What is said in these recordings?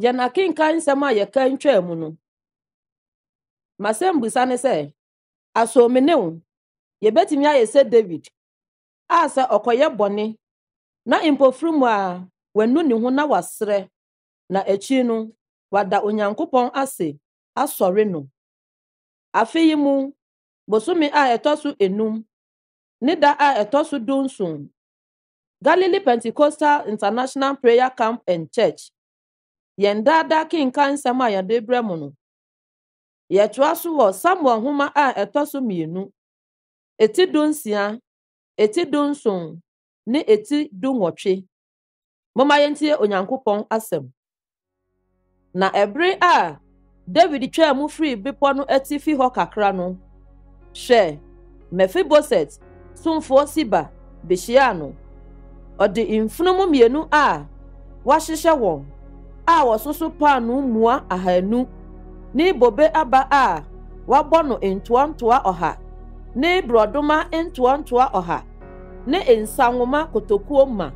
Yɛn akenkan nsɛm a yɛkan twaa mu no, m'asɛmbisa ne sɛ, aso me ne wo yɛbɛtumi ayɛ sɛ David a sɛ ɔkɔyɛ bɔne na mpofiri mu a wanu ne ho na wasrɛ na akyiri no wada Onyankopɔn ase asɔre no? Afe yi mu bosome a ɛtɔ so enum ne da a ɛtɔ so dunson Galilee Pentecostal International Prayer Camp and Church. Yɛn Daa Daa Kenkan Nsɛm a Yɛde Rebrɛ Mo No. Yɛtoa so wɔ Samuel Nhoma a Ɛtɔ So Mmienu, Eti Dunsia, Eti Dunson, ne Eti Dunwɔtwe. Momma yɛntie Onyankopɔn asɛm. Na ɛbere a Dawid twaa mu firii bepɔ no atifi hɔ kakra no, hwɛ, Mefiboset somfoɔ Siba behyiaa no. Ɔde mfunumu mmienu a wɔahyehyɛ wɔn a wɔsoso paanoo mua ahanu ne bobe aba a wɔabɔ no ntoantoa ɔha ne borɔdoma ntoantoa ɔha ne nsã nwoma kotokuo mma.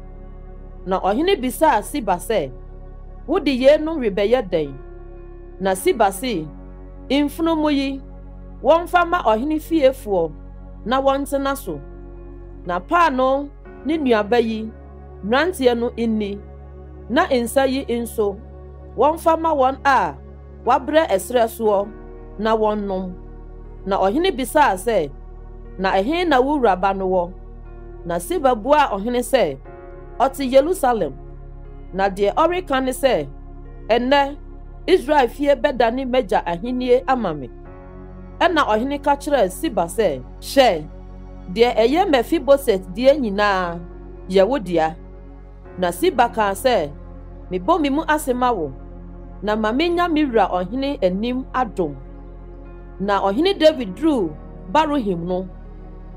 Na ɔhene bisaa Siba sɛ, Wode yeinom rebɛyɛ dɛn? Na Siba se, Mfunumu yi, wɔmfa mma ɔhene fiefoɔ na wɔntena so, na paanoo ne nnuaba yi, mmeranteɛ no nni, na nsã yi nso, wɔmfa mma wɔn a Wɔabrɛ ɛserɛ soɔ na wɔnnom. Na ɔhene bisaa sɛ, Na ɛhe na wo wura ba no wɔ? Na Siba buaa ɔhene sɛ, Ɔte Yerusalem. Na deɛ ɔreka ne sɛ, Ɛnnɛ, Israel fie bɛdane m'agya ahennie ama me. Ɛnna ɔhene ka kyerɛɛ Siba sɛ. Hwɛ, deɛ ɛyɛ Mefiboset deɛ nyinaa yɛ wo dea. Na Siba kaa sɛ, Mebɔ me mu ase ma wo, na ma menya me wura ɔhene anim adom. Na ɔhene Dawid duruu Baruhim no,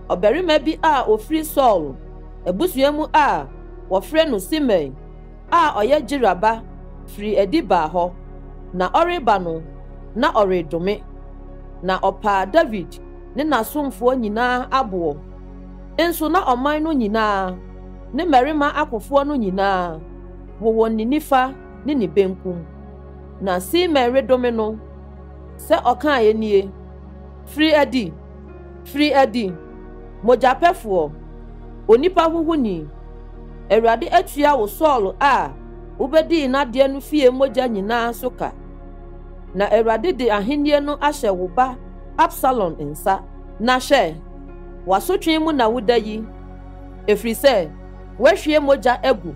ɔbarima bi a ɔfiri Saulo abusua mu a wɔfrɛ no Simei a ɔyɛ Gera ba firii adi baa hɔ. Na ɔreba no, na ɔredome, na ɔpaa Dawid ne n'asomfoɔ nyinaa aboɔ, nso na ɔman no nyinaa Ne mmarima akofoɔ no nyinaa wowɔ ne nifa ne ne benkum. Na Simei redome no sɛ ɔkaeɛ nie, Firi adi! Firi adi! Mogyapɛfoɔ! Onipa huhuni! Awurade atua wo Saul a wobɛdii n'adeɛ no fie mogya nyinaa so ka, na Awurade de ahennie no ahyɛ wo ba Absalom nsa. Na hwɛ, w'asotwe mu na woda yi. Ɛfiri sɛ woahwie mogya agu.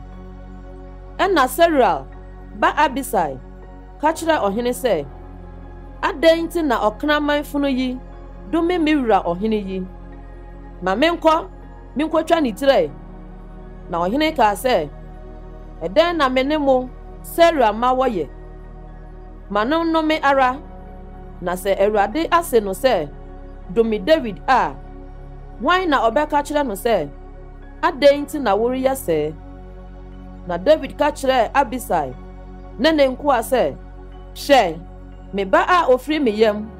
Ɛnna Seruiel ba Abisai ka kyerɛɛ ɔhene sɛ, Adɛn nti na ɔkraman funu yi dome me wura ɔhene yi? Ma menkɔ menkɔtwa ne tire. Na ɔhene kaa sɛ, Ɛdɛn na me ne mo Seruiel mma wɔyɛ? Ma no nnome ara! Na sɛ Awurade ase no sɛ, 'Dome Dawid' a, hwan na ɔbɛka akyerɛ no sɛ, 'Adɛn nti na woreyɛ sɛɛ? Na Dawid ka kyerɛɛ Abisai ne ne nkoa sɛ, Hwɛ, me ba a ofiri me yam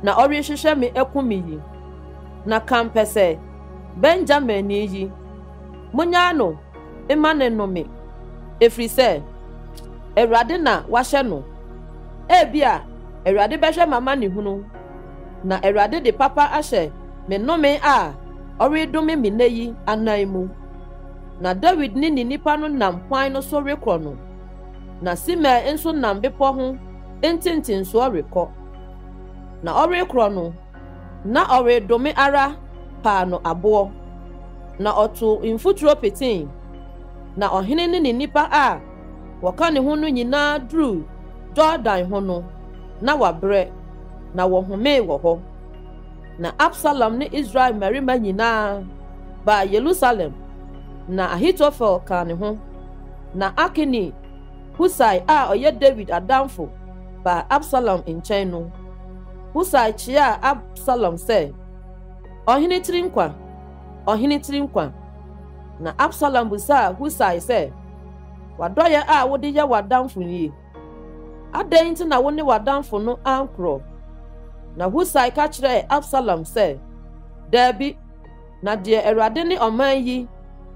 na ɔrehwehwɛ me akum me yi, na kampɛsɛ Benyaminni yi, munnyaa no mma no nnome, ɛfiri sɛ Awurade na wahyɛ no. Ebia Awurade bɛhwɛ m'amanehunu, na Awurade de papa ahyɛ me nnome a ɔredome me nnɛ yi anan mu. Na Dawid ne ne nnipa no nam kwan no so rekɔ no, na Simei nso nam bepɔ ho ntentensoɔ rekɔ. Na ɔrekorɔ no, Na ɔredome ara paa no aboɔ, na ɔtoo mfuturo petee, na ɔhene ne ne nnipa a wɔka ne ho no nyinaa duruu Yordan ho no, na wɔabrɛ, na wɔhomee wɔ hɔ. Na Absalom ne Israel mmarima nyinaa baa Yerusalem, na Ahitofel kaa ne ho, na Arkini Husai a ɔyɛ Dawid adamfo baa Absalom nkyɛn no. Husai kyiaa Absalom sɛ, Ɔhene tiri nkwa! Ɔhene tiri nkwa! Na Absalom bisaa Husai sɛ, W'adɔeɛ a wode yɛ w'adamfo nie, adɛn nti na wo ne w'adamfo no ankorɔ? Na Husai ka kyerɛɛ Absalom sɛ, Daabi, na deɛ Awurade ne ɔman yi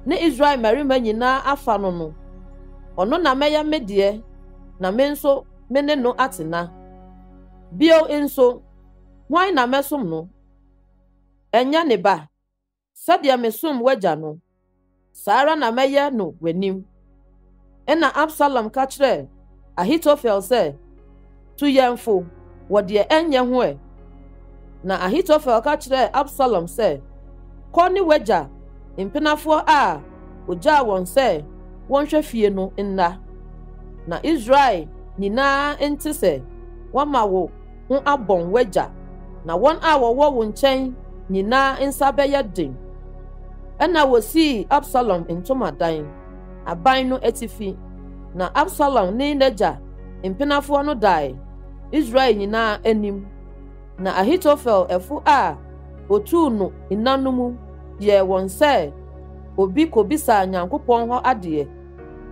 ne Israel mmarima nyinaa afa no no, ɔno na mɛyɛ me deɛ, na me nso me ne no atena. Bio nso, hwan na mɛsom no? Ɛnyɛ ne ba? Sɛdeɛ mesom w'agya no, saa ara na mɛyɛ no w'anim. Ɛnna Absalom ka kyerɛɛ Ahitofel sɛ, Tu yɛn fo wɔ deɛ ɛnyɛ ho ɛ. Na Ahitofel ka kyerɛɛ Absalom sɛ, Kɔ ne w'agya mpenafoɔ a ɔgyaa wɔn sɛ wɔnhwɛ fie no nna, na Israel nyinaa nte sɛ wɔama wo ho abɔn w'agya, na wɔn a wɔwɔ wo nkyɛn nyinaa nsa bɛyɛ den. Ɛnna wɔsii Absalom ntomadan aban no atifi, na Absalom ne n'agya mpenafoɔ no dae Israel nyinaa anim. Na Ahitofel ɛfo a otuu no nna no mu yɛɛ wɔn sɛ obi kobisaa Nyankopɔn hɔ adeɛ,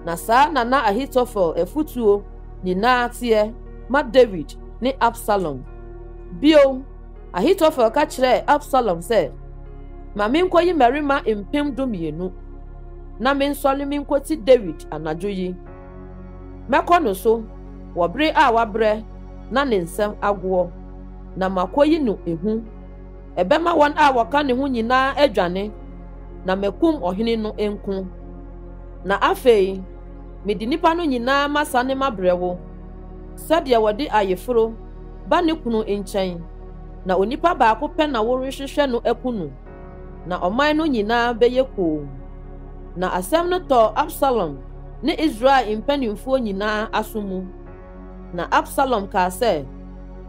na saa na na Ahitofel afotuo nyinaa teɛ ma Dawid ne Absalom. Bio, Ahitofel ka kyerɛɛ Absalom sɛ, Ma menkɔyi mmarima mpem dumienu, na mensɔre menkɔti Dawid anadwo yi. Mɛkɔ no so wɔ bere a wabrɛ na ne nsa agoɔ, na makɔyi no ehu. Ɛbɛma wɔn a wɔka ne ho nyinaa adwane, na makum ɔhene no nko. Na afei mede nnipa no nyinaa masane mabrɛ wo, sɛdeɛ wɔde ayeforo ba ne kunu nkyɛn, na onipa baako pɛ na worehwehwɛ no aku no. na ɔman no nyinaa bɛyɛ komm. Na asɛm no tɔɔ Absalom ne Israel mpanimfoɔ nyinaa aso mu. Na Absalom kaa sɛ,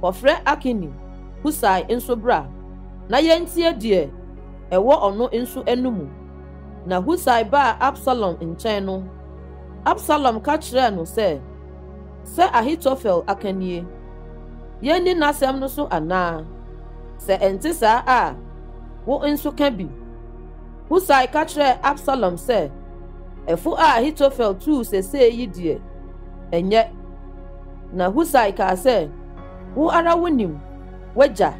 Kɔfrɛ Arkini Husai nso bra, na yɛntie deɛ ɛwɔ ɔno nso anomu. Na Husai baa Absalom nkyɛn no, Absalom ka kyerɛɛ no sɛ, sɛ Ahitofel aka nie? Yɛnni n'asɛm no so anaa? Sɛ ɛnte saa a, wo nso ka bi. Husai ka kyerɛɛ Absalom sɛ, Ɛfo a Ahitofel tuu sesee yi deɛ, ɛnyɛ. Na Husai kaa sɛ, Wo ara wonim w'agya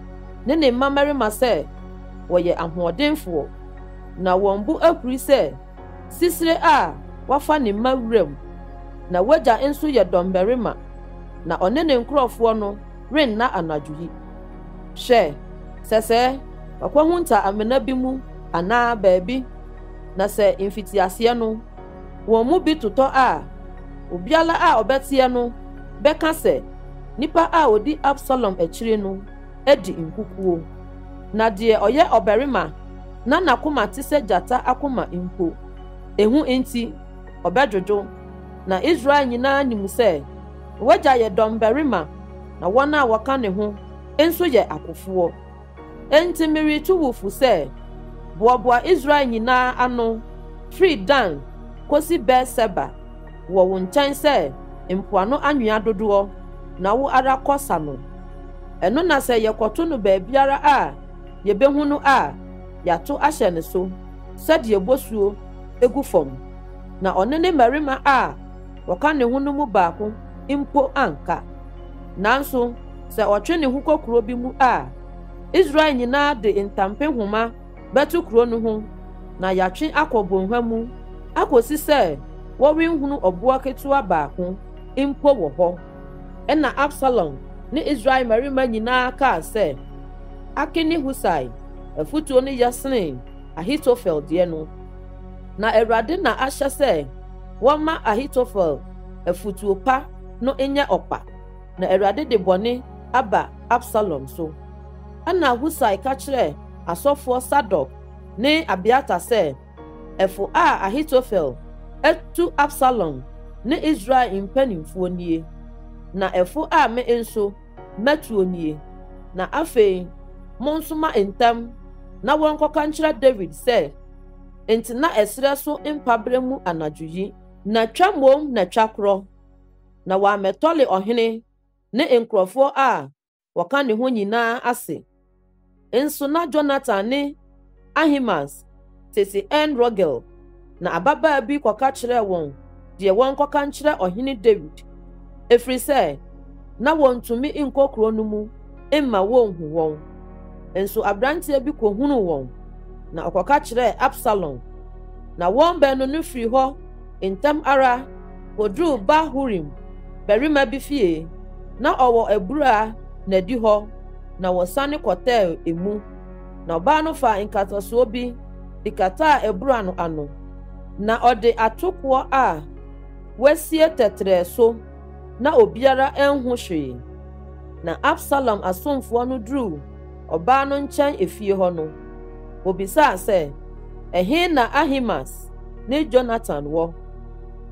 ne ne mmamarima sɛ wɔyɛ ahoɔdenfoɔ, na wɔn bo ahuri sɛ Sisire a wafa ne mma wuram, na w'agya nso yɛ dɔmmarima, na ɔne ne nkurɔfoɔ no renna anadwo yi. Hwɛ, sɛsɛ, wakɔhunta amena bi mu anaa baabi, na sɛ mfitiaseɛ no wɔn mu bi totɔ a, obiara a ɔbɛteɛ no bɛka sɛ, Nipa a ɔdi Absalom akyire no. di nkukuo, na deɛ ɔyɛ ɔbarima na n'akoma te sɛ gyata akoma mpo, ehu nti, ɔbɛdwodwo. Na Israel nyinaa nim sɛ w'agya yɛ dɔmbarima, na wɔn a wɔka ne ho nso yɛ akofoɔ. Enti meretu wo fo sɛ, boaboa Israel nyinaa ano, firi Dan kɔsi Beer-Seba. wɔ wo nkyɛn sɛ mpoano anwea dodoɔ na wo ara kɔ sa no. Ɛno na sɛ yɛkɔto no baabiara a yɛbɛhu no a, yɛato ahyɛ ne so sɛdeɛ bosuo gu fam, na ɔne ne mmarima a wɔka ne ho no mu baako mpo anka. Nanso sɛ ɔtwe ne ho kɔ kuro bi mu a, Israel nyinaa de ntampehoma bɛto kuro no ho na yɛatwe akɔ bɔnhwa mu akɔsi sɛ wɔrenhunu ɔboa ketewa baako mpo wɔ hɔ. Ɛnna Absalom ne Israel mmarima nyinaa kaa sɛ, Akin ne Husai afotuo no yɛ sene Ahitofel deɛ no. Na Awurade na ahyɛ sɛ wɔmma Ahitofel afotuo pa no nyɛ ɔkwa, na Awurade de bɔne aba Absalom so. Ɛnna Husai ka kyerɛɛ asɔfoɔ Sadok ne Abiatar sɛ, Ɛfo a Ahitofel atu Absalom ne Israel mpanimfoɔ nie, na ɛfo a me nso mɛtuo nie. Na afei monsoma ntɛm na wɔnkɔka nkyerɛ Dawid sɛ, 'Ntena ɛserɛ so mpaberɛ mu anadwo yi. Na twa mmom na twa korɔ, na wammɛtɔre ɔhene ne nkurɔfoɔ a wɔka ne ho nyinaa ase. Nso na Jonathan ne Ahimaas tete En-Rogel, na ababaa bi kɔka kyerɛɛ wɔn deɛ wɔnkɔka nkyerɛ ɔhene Dawid, ɛfiri sɛ na wɔntumi nkɔ kuro no mu mma wɔnhu wɔn. Nso aberanteɛ bi kɔhunuu wɔn, na ɔkɔka kyerɛɛ Absalom, na wɔn baanu no firii hɔ Ntɛm ara, woduu Bahurim barima bi fie. Ná ɔwɔ abura na edi hɔ, na wɔsane kɔtɛɛ emu. Na ɔbaa no faa nkatasoɔ bi de kataa abura no ano. Na ɔde atokoɔ a wɔasie tɛtrɛɛ so, na obiara anhu hwee. Na Absalom asomfoɔ no duruu ɔbaa no nkyɛn efie hɔ no, obisaa sɛ, Ɛhe na Ahimaas ne Yonatan wɔ?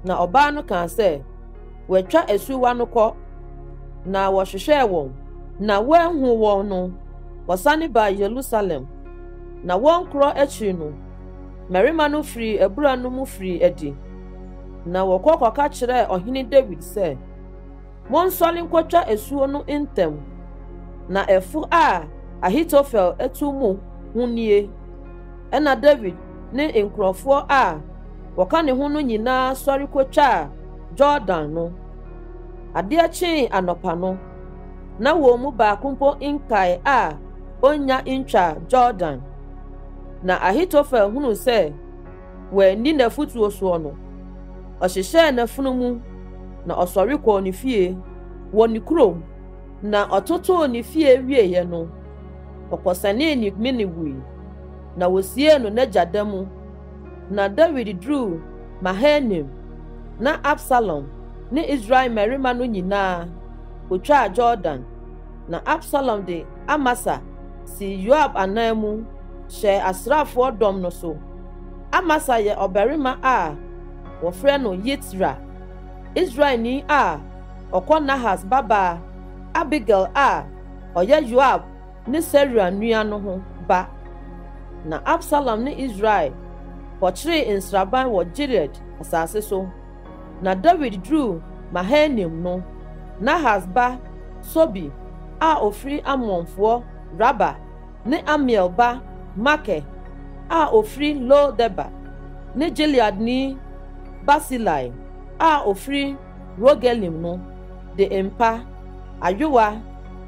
Na ɔbaa no kaa sɛ, Wɔatwa asuwa no kɔ, na wɔhwehwɛɛ wɔn, na wɔanhu wɔn no, wɔsane baa Yerusalem. Na wɔn korɔ akyiri no, mmarima no firii abura no mu firii adi, na wɔkɔ kɔka kyerɛɛ ɔhene Dawid sɛ, Monsɔre nkɔtwa asuo no ntɛm. Na ɛfo a Ahitofel tu mo ho nie. Ɛnna Dawid ne nkurɔfoɔ a wɔka ne ho no nyinaa sɔre kɔtwaa Yordan no. Adeɛ kyee anɔpa no, na wɔn mu baako mpo nkae a ɔnnya ntwaa Yordan. Na Ahitofel hunuu sɛ wanni n'afotuo soɔ no, ɔhyehyɛɛ n'afuno mu na ɔsɔre kɔɔ ne fie wɔ ne kurom, na ɔtotoo ne fie wieeɛ no, ɔkɔsɛnee ne mene wui, na wɔsiee no n'agya da mu. Na Dawid duruu Mahanaim, na Absalom ne Israel mmarima no nyinaa kɔtwaa Yordan, na Absalom de Amasa sii Yoab ananmu hyɛɛ asraafoɔ dɔm no so. Amasa yɛ ɔbarima a wɔfrɛ no Yitra, Israelni a ɔkɔ Nahas babaa Abigail a ɔyɛ Yoab ne Seruia nua no ho ba. Na Absalom ne Israel kɔkyeree nsraban wɔ Gilead asase so. Na Dawid duruu Mahanaim no, Nahas ba Sobi a ɔfiri Ammonfoɔ Raba ne Amiel ba Makir a ɔfiri Lo-Debar, ne Gileadni Barsilai a ɔfiri Rogelim no de mpa, ayowa,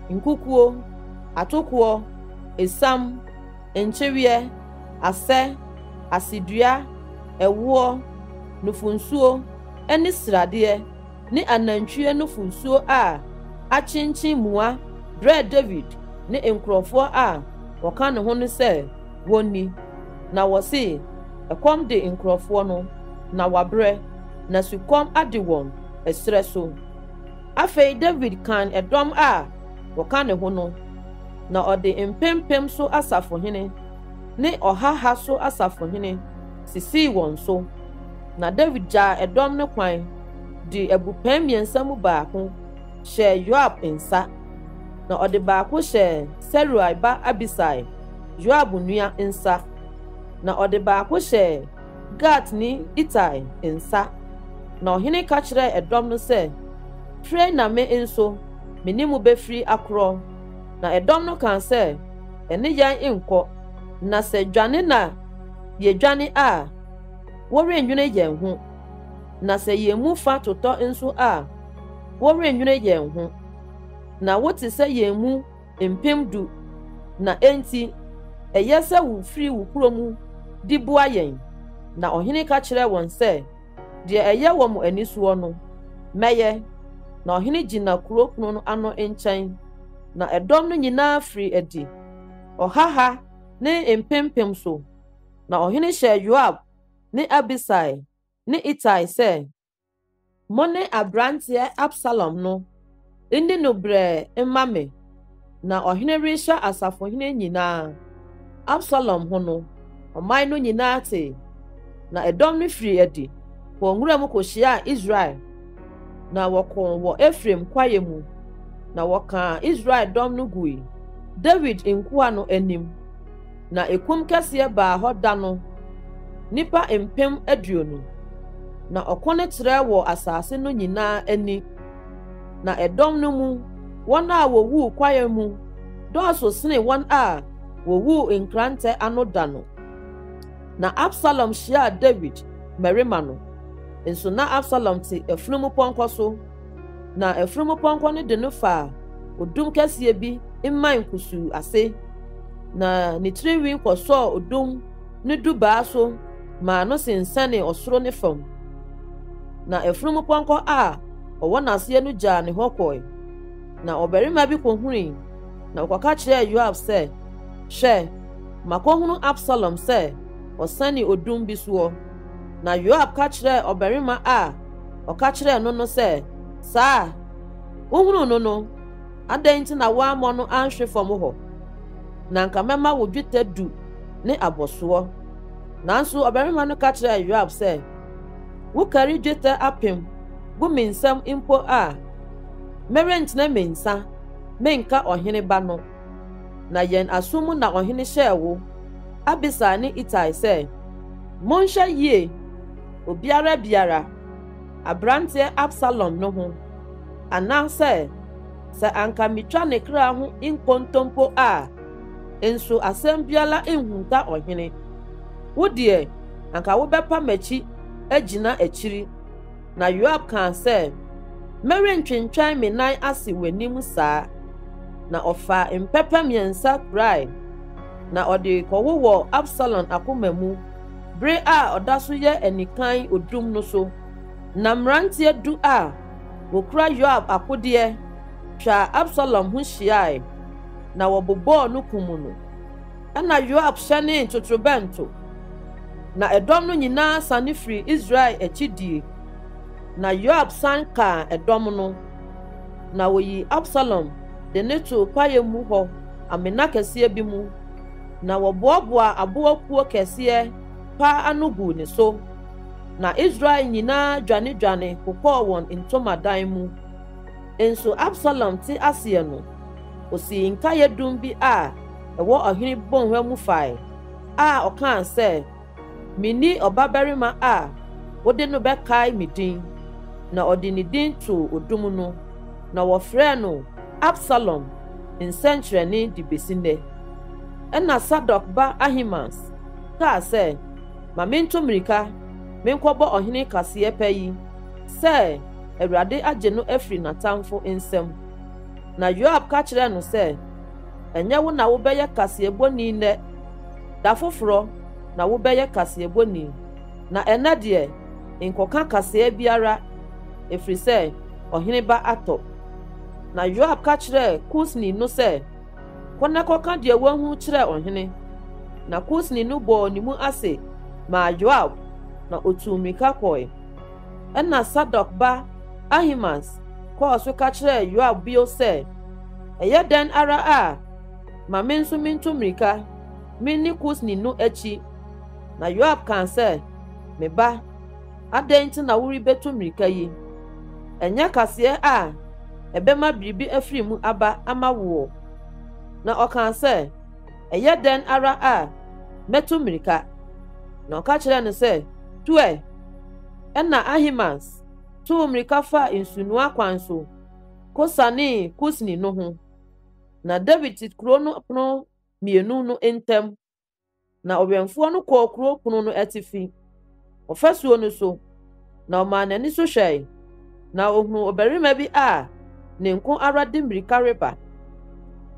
nkukuo, atokoɔ, esiam, nkyeweɛ, asɛ, asedua, ɛwoɔ, nufonsuo, ne sradeɛ, ne anantwie no funsuo a akyenkyen mua brɛɛ Dawid ne nkurɔfoɔ a wɔka ne ho no sɛ wɔnni. Na wɔse, Ɛkɔm de nkurɔfoɔ no, na wɔabrɛ, na sukɔm ade wɔn ɛserɛ so. Afei Dawid kan ɛdɔm a wɔka ne ho no, na ɔde mpempem so asafohene ne ɔhaha so asafohene sisii wɔn so. Na Dawid gyaa ɛdɔm no kwan. de abupɛn mmiɛnsa mu baako hyɛɛ Yoab nsa, na ɔde baako hyɛɛ Seruia ba Abisai, Yoab nua nsa, na ɔde baako hyɛɛ Gatni Itai nsa. Na ɔhene ka kyerɛɛ ɛdɔm no sɛ, Pire na me nso me ne mo bɛfiri akorɔ. Na ɛdɔm no kaa sɛ, Ɛne yɛn nkɔ, na sɛ dwane na yɛdwane a, worennwene yɛn ho. Na sɛ yɛn mu fa totɔ nso a, worennwene yɛn ho. Na wote sɛ yɛn mu mpem du, na enti ɛyɛ sɛ wufiri wo kuro mu de boa yɛn. Na ɔhene ka kyerɛɛ wɔn sɛ, Deɛ ɛyɛ wɔ mo ani soɔ no, mɛyɛ. Na ɔhene gyina kuro pono no ano nkyɛn, na ɛdɔm no nyinaa firii adi, ɔhaha ne mpempem so. Na ɔhene hyɛɛ Yoab ne Abisai ne Itai sɛ, Mo ne aberanteɛ Absalom no nni no brɛɛ mma me. Ná ɔhene rehyɛ asafohene nyinaa Absalom ho no, ɔman no nyinaa tee. Na ɛdɔm no firii adi kɔɔ nwuram kɔhyiaa Israel, na wɔkoo wɔ Efraim kwaeɛ mu, na wɔkaa Israel dɔm no gui Dawid nkoa no anim. Na ekum kɛseɛ baa hɔ da no, nnipa mpem aduonu, na ɔko no trɛɛ wɔ asase no nyinaa ani. Na ɛdɔm no mu wɔn a wɔwuu kwaeɛ mu dɔɔso sene wɔn a wɔwuu nkrantɛ ano da no. Na Absalom hyiaa Dawid mmarima no, nso na Absalom te afunumupɔnkɔ so. na afurumpɔnkɔ no de no faa odum kɛseɛ bi mman kusuu ase, na ne tirinwi kɔsɔɔ odum no dubaa so maa no sensɛnee ɔsoro ne fam. Na afurumpɔnkɔ a ɔwɔ n'aseɛ no gyaa ne hɔ kɔe. Na ɔbarima bi kɔhunui, na ɔkɔka kyerɛɛ Yoab sɛ, Hwɛ, makɔhunu Absalom sɛ ɔsɛne odum bi soɔ. Na Yoab ka kyerɛɛ ɔbarima a Ɔka kyerɛɛ no no sɛ, Saa a wohunuu no no, adɛn nti na woammɔ no anhwe fam hɔ? Na anka mɛma wo dwetɛ du ne abɔsoɔ. Nanso ɔbarima no ka kyerɛɛ Yoab sɛ, Wokari dwetɛ apem gu me nsam mpo a, merentene me nsa menka ɔhene ba no. Na yɛn aso mu na ɔhene hyɛɛ wo, Abisai ne Itai sɛ, Monhwɛ yie obiara biara, aberanteɛ Absalom no ho, anaasɛ sɛ anka metwa ne kra ho nkontompo a, nso asɛm biara nhunta ɔhene. Wo deɛ, anka wobɛpa m'akyi agyina akyiri. Na Yoab kaa sɛ, Merentwentwɛn me nan ase w'anim saa. Na ɔfaa mpɛpɛ mmiɛnsa kurae, na ɔde kɔwowɔɔ Absalom akoma mu bere a ɔda so yɛ anikan odum no so, na mmerante du a wokura Yoab akodeɛ twaa Absalom ho hyiae, na wɔbobɔɔ no kum no. Ɛnna Yoab hyɛnee totorobɛnto, na ɛdɔm no nyinaa sane firii Israel akyi die. Na Yoab san kaa ɛdɔm no, na wɔyii Absalom de no too kwaeɛ mu hɔ amena kɛseɛ bi mu. Na wɔboaboaa aboa kuo kɛseɛ pa ano guu ne so, na Israel nyinaa dwanedwane kokɔɔ wɔn ntomadan mu. Nso Absalom te aseɛ no, ɔsii nkaeɛ dum bi a ɛwɔ ɔhene bɔnhwa mu fae, a ɔkaa sɛ, Minni ɔbabarima a wode no bɛkae me din. Na ɔde ne din too odum no, na wɔfrɛɛ no Absalom Nsɛnkyerɛnne de besi nnɛ. Ɛnna Sadok ba Ahimaas kaa sɛ, Ma mintu mmirika menkɔbɔ ɔhene kaseɛ pa yi sɛ Awurade agye no afiri n'atamfo nsam. Na Yoab ka kyerɛɛ no sɛ, Ɛnyɛ wo na wobɛyɛ kaseɛbɔni nnɛ, Da foforɔ na wobɛyɛ kaseɛbɔni, na ɛnnɛ deɛ, nkɔka kaseɛ biara, ɛfiri sɛ ɔhene ba atɔ. Na Yoab ka kyerɛɛ Kusni no sɛ, Kɔ na kɔka deɛ woahunu kyerɛ ɔhene. Na Kusni no bɔɔ ne mu ase maa Yoab, na ɔtuu mmirika kɔe. Ɛnna Sadok ba Ahimaas kɔɔ so ka kyerɛɛ Yoab bio sɛ, Ɛyɛ dɛn ara a Ma me nso mintu mmirika minni Kusni no akyi. Na Yoab kaa sɛ, Me ba, adɛn nti na worebetu mmirika yi? Ɛnyɛ kaseɛ a ɛbɛma biribi afiri mu aba ama woɔ? Na ɔkaa sɛ, Ɛyɛ dɛn ara a mɛtu mmirika? Na ɔka kyerɛɛ no sɛ, Tu ɛ! Ɛnna Ahimaas tuu mmirika faa nsunoa kwan so kosianee Kusni no ho. Na Dawid te kurow no pono mmienu no ntam, na ɔwɛmfoɔ no kɔɔ kurow pono no atifi, ɔfasuo no so, na ɔmaa n'ani so hwɛe, na ohunuu ɔbarima bi a ne nko ara de mmirika reba.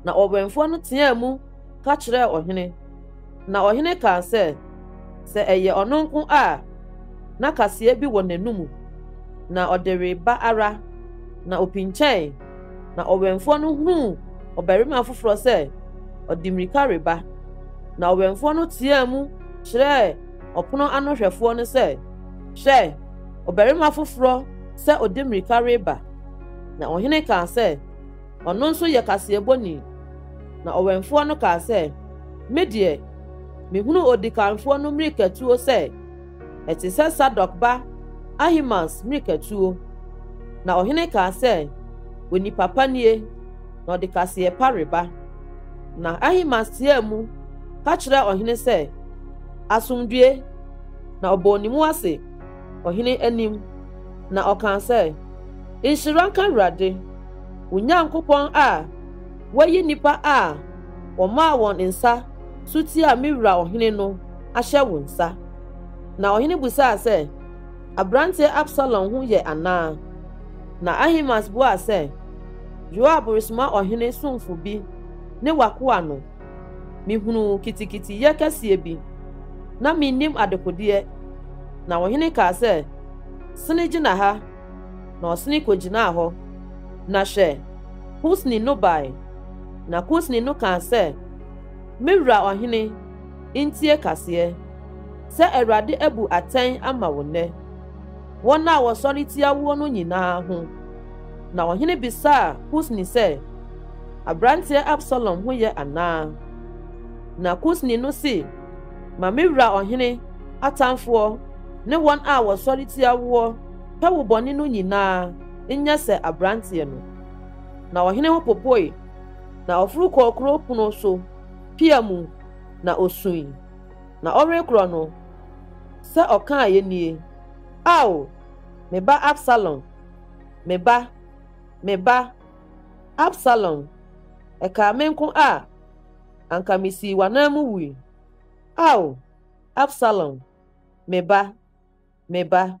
Na ɔwɛmfoɔ no teaa mu ka kyerɛɛ ɔhene. Na ɔhene kaa sɛ, Sɛ ɛyɛ ɔno nko a, na kaseɛ bi wɔ n'anomu, na ɔde reba ara, na ɔpinkyɛn, na ɔwɛmfoɔ no hunuu ɔbarima foforɔ sɛ ɔde mmirika reba. Na ɔwɛmfoɔ no teaa mu kyerɛɛ ɔpono ano hwɛfoɔ no sɛ, Hwɛ, ɔbarima foforɔ sɛ ɔde mmirika reba. Na ɔhene kaa sɛ, ɔno nso yɛ kaseɛbɔni. Na ɔwɛmfoɔ no kaa sɛ, Me deɛ, mehunu odikanfoɔ no mmirikatuo sɛ ɛte sɛ Sadok ba Ahimaas mmirikatuo. Na ɔhene kaa sɛ, Onipa pa nie, na ɔde kaseɛ pa reba. Na Ahimaas teaa mu ka kyerɛɛ ɔhene sɛ, Asomdwoe! Na ɔbɔɔ ne mu ase ɔhene anim, na ɔkaa sɛ, Nhyira nka Awurade! Onyankopɔn a wayi nnipa a wɔmaa wɔn nsa so tiaa me wura ɔhene no ahyɛ wo nsa. Na ɔhene bisaa sɛ, Aberanteɛ Absalom ho yɛ anaa? Na Ahimaas buaa sɛ, Yoab resoma ɔhene somfo bi ne w'akoa no. Mehunuu kitikitiyɛ kɛseɛ bi, na mennim adekodeɛ. Na ɔhene kaa sɛ, Sene gyina ha. na ɔsene kogyinaa hɔ, na hwɛ! Kusni no bae. Na Kusni no kaa sɛ, Me wura ɔhene, ntie kaseɛ, sɛ Awurade abu atɛn ama wo nnɛ, wɔn a wɔsɔre tia woɔ no nyinaa ho. Na ɔhene bisaa Kusni sɛ, Aberanteɛ Absalom ho yɛ anaa? Na Kusni no se, Ma me wura ɔhene atamfoɔ ne wɔn a wɔsɔre tia woɔ Ka wo bɔne no nyinaa nyɛ sɛ aberanteɛ no. Na ɔhene ho popoe, na ɔforo kɔɔ kuro pono so pia mu, na ɔsui. Na ɔrekorɔ no, sɛ ɔkaaeɛ nie, Ao, me ba Absalom, me ba, me ba, Absalom, ɛkaa me nko a, anka mesii w'anan mu wui. Ao, Absalom, me ba. Me ba.